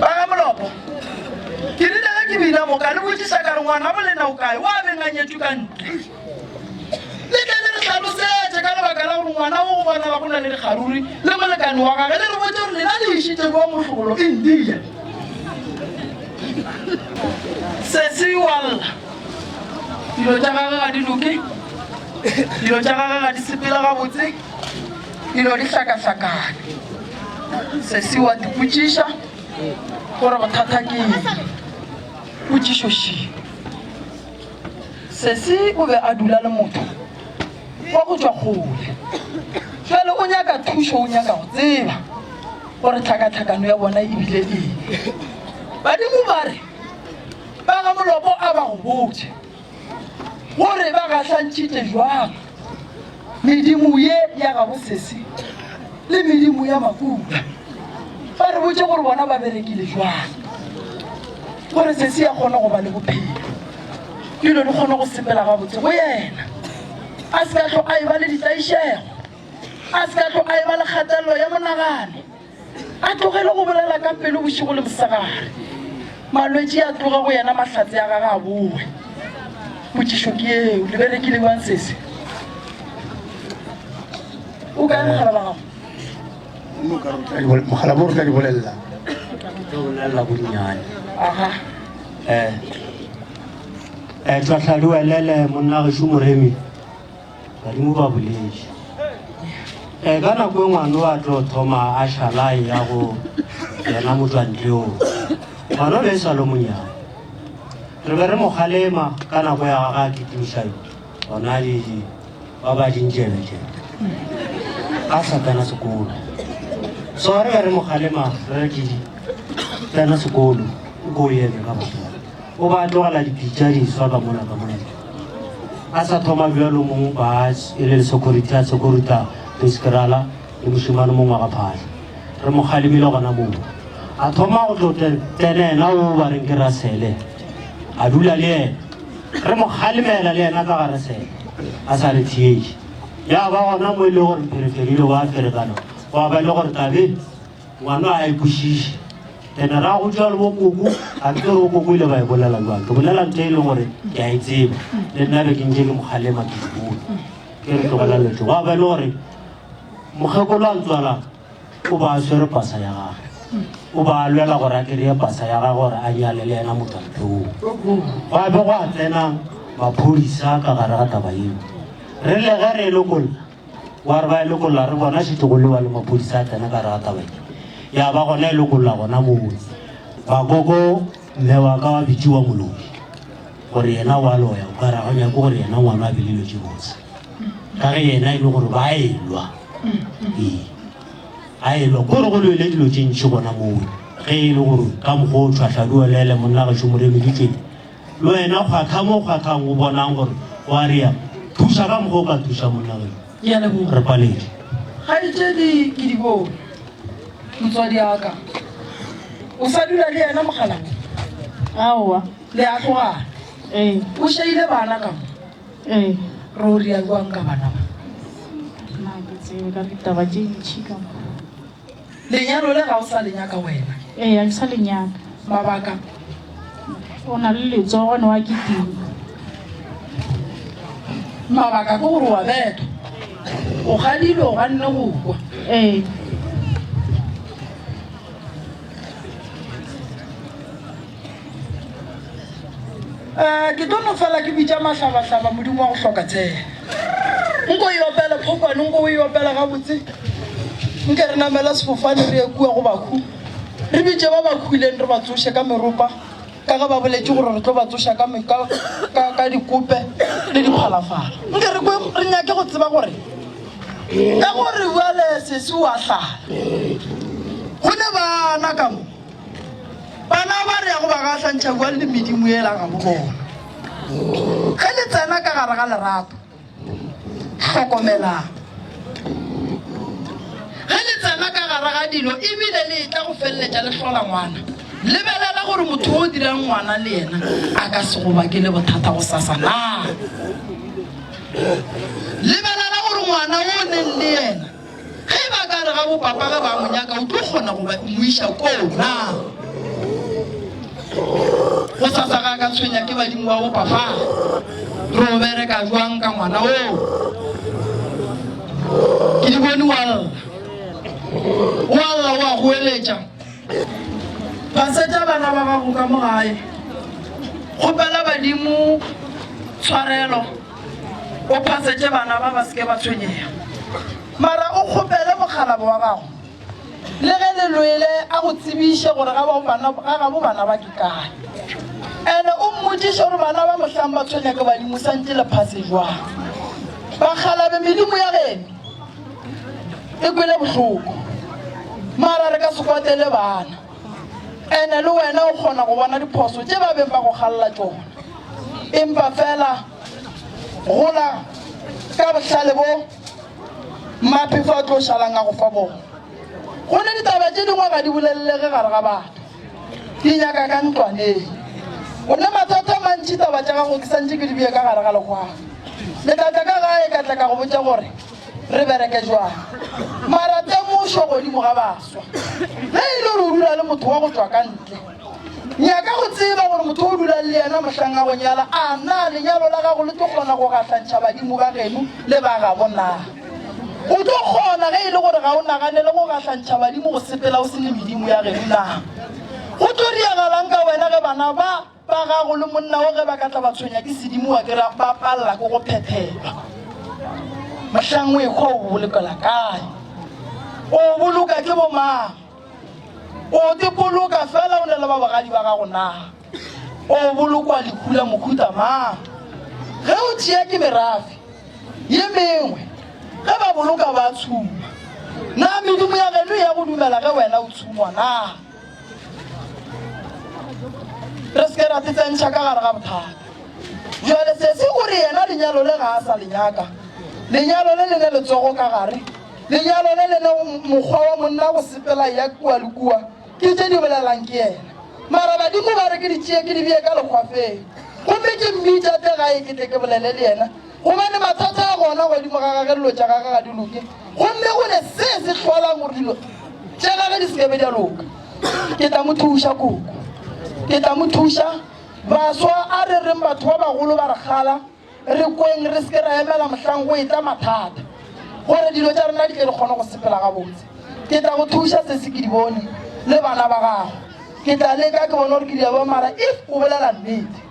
baga molopo ke rile ge ke bina moka le botsisa ka re ngwana bolena o kae wa benganyetso ka ntle le tle le re tlhalosetse ka lebaka la gore ngwana o go bonala go na le dikgaruri le molekane wa gage le re botse gore lena le išitse kwa motlogolo india sesiwalla Dilo tša gagwe ga di loke, dilo tša gagwe ga di sepele gabotse, dilo di hlakahlakane. Sesi wa dipotšiša gore bothata ke eng, potšišo šeng. Sesi o be a dula le motho wa go tšwa kgole, fele o nyaka thušo, o nyaka go tseba gore tlhakatlhakano ya bona e bile eng. Badimo ba re, Ba ga Molopo a ba go botša gore ba gahlantšhitše jwang medimo ye ya gabo Sesi le medimo ya Makuta. Ba re botše gore bona ba berekile jwang gore Sesi ya kgone go ba le bophelo, dilo di kgone go sepela gabotse go yena, a se ka tlo a e ba le ditlaišego, a se ka tlo a e ba le kgatelelo ya monagano. A tlogele go bolela ka pelo bošigo le mosegare. Malwetši a tloga go yena, mahlatse a gage a bowe. Potšišo ke yeo, le berekile bjang sese? O kae mogala wa gago? mogala mo re tla di bolelela ke o nalla bonnyane aha eh eh tla tlhaloelele monna ge shumoremi badimo ba boledi e ka nako e ngwana wa tlo thoma a šalae ya go yena motswantleong ngwana o be e sa lo monyana re be re mokgalema ka nako ya ga a kitimiša yo gona le ba ba dintšebetšebe a sa tsena sekolo so re be re mokgalema re re ke tsena sekolo o ko o eme ka botona o ba tlogela dipitša di swa ka mona ka mona a sa thoma bjalo mong ba e le security a securita peskerala le mošimane mongwe ga phatlha re mo kgalemile gona moo a thoma go tlo tsene ena o ba reng ke rasele a dula le ena re mo kgalemela le ena ka ga rasele a sa re thietše ya ba gona mo e le gore phereferile wa ferekana wa ba e le gore tabe Ngwana a e kwešiše. Ene ra go tšwa le bo koko, a ke gore bo koko ile ba e bolela jwang. Ke bolela ntho e le gore ke a e tseba. Le nna be ke ntše ke mokgalema ke dibola. Ke re tlogela letso. Wa ba e le gore mokgekolo a ntswala o ba a swere pasa ya gage. O ba a lwela gore a kry-e pasa ya gage gore a nyale le yena motho a too. Gwa be gwa tsenang maphodisa ka gare ga taba eo. Re le ge re e lokolla wa re ba e lokolola re bona šetše go lewa le maphodisa a tsena ka rata wena ya ba gona e lokolola gona moo bakoko mme wa ka wa bitši wa molobi gore yena wa loya o ka ra go nyako gore yena ngwana a belelo tše botse ka ge yena e le gore ba elwa ee a elwa ko re go lwele dilo tše ntšhi gona moo ge e le gore ka mokgwa o tshwahladiwa lele monna gašo moremeditsweng Le wena kgwakha mo kgwakhang o bonang gore o a rea, thuša ka mokgwa o ka thuša monna geno. Ke a leboga. Re paletše. Kgaetšedi ke di bone. Motswadi wa ka. O sa dula le yena mokgalabje? Aowa. Le a tlogana? Ee. O šeile bana ka mo? Ee. Re o rea bjang ka bana ba? Na ke tsebe ka ditaba tše ntši ka mo. Lenyalo le ga o sa le nyaka wena? Ee, ga ke sa le nyaka. Mabaka? O na le letsogo ne wa kitima. Mabaka ke gore wa beta, o gadile, o ganne go kwa. Ee. um ke tlo no fela ke bitša mahlabahlaba modimo wa go hloka tshela nko e opele phokwane nko o e opela gabotse nke re namela sefofane re ye kua go bakhu re bitše ba bakhuleng re ba tsoše ka meropa ka ge ba boletse gore re tlo ba tsoša ka dikope le diphalafala nke re nyake go tseba gore ka gore uale sese wa tlala go ne bana ka mo Bana ba re ya go ba gahlantšha kua le medimo yela ga bo bona. Ge le tsena ka gare ga lerato, hlokomelang. Ge le tsena ka gare ga dilo e bile le etla go feleletša le hlola ngwana, lebelela gore motho yo o dirang ngwana le yena a ka se go bakele bothata gosasa naa. Lebelela gore ngwana yo o neng le yena Ge e ba ka re ga bo papa ge ba mo nyaka, o tlo kgona go ba mo iša koo na? Gosasa ga a ka tshwenya ke badimo ba bo papa. Re o bereka jwang ka ngwana oo? Ke di bone wa lla. Wa lla o a goeletša. Gasetša bana ba gago ka mo gae. Kgopela badimo tshwarelo. O phasetše bana ba ba se ke ba tshwenyega. Mara o kgopele mokgalabo wa gago le ge le lwele a go tsebiše gore ga gabo bana ba ke kae. Ene o mmotšiše gore bana ba mohlang ba tshwenya ke badimo sa ntše le phase jwang. Bakgalabe medimo ya geno e kwele bohloko mara re ka se kwatele bana. Ene le wena o kgona go bona diphoso tše ba beng ba go galela tšona. Empa fela gola ka bohlale bo Maphefo a tlo šalang a go fa bona. Go ne ditaba tše dingwe ga di bolelelege gare ga batho. Di nyaka ka ntlwaneng. O ne mathata a mantši taba tša gago ke santše ke di bee ka gare ga legwaba. Le tla tla ka gae ka tla ka go botša gore Re bereke jwang? Mara temošo godimo ga baswa. Ge e le gore o dula le motho wa go tšwa ka ntle, nyaka go tseba gore motho o dulang le yena mohlang a go nyala a na lenyalo la gago le tlo kgona go gahlantšha badimo ba geno le ba gabo na. O tlo kgona ge e le gore ga o naganele go gahlantšha badimo go sepela o se le medimo ya geno na. Go tlo diragalang ka wena ge bana ba Ba gago le monna wo ge ba ka tla ba tshwenya ke sedimo wa ke ra ba palela ko go phephelwa. Mohlang o ekgwa o bolokela kae? O boloka ke bo mang? O te boloka fela o ne le ba bogadi ba gago na? O bolokwa lehu la mohuta mang? Ge o tšea ke merafe ye mengwe ge ba boloka ba tshuma. Na medimo ya geno ya go dumela ge wena o tshumwa na? re se ke ra tsetsentšha ka gare ga bothata jale se se gore yena lenyalo le ga a sa le nyaka lenyalo le le ne letsogo ka gare lenyalo le le ne mokgwa wa monna go sepela ya kua le kua ke tše di bolelang ke yena mara badimo ba re ke di tšee ke di bee ka lekgwafeng gomme ke mmitša tle gae ke tle ke bolele le yena gobane mathata a gona godimo ga gage dilo tša gage ga di loke gomme go ne se se hlolang gore dilo tša gage di sekebe di a loka ke tla mo thuša koko ke tla mo thuša baswa a re reng batho ba bagolo ba re gala re kweng re seke ra emela mohlang go etla mathata gore dilo tša rena di tle re kgone go sepela gabotse ke tla go thuša se se ke di bone le bana ba gago ke tla leka ke bone gore ke diabo mara if o bolela nnete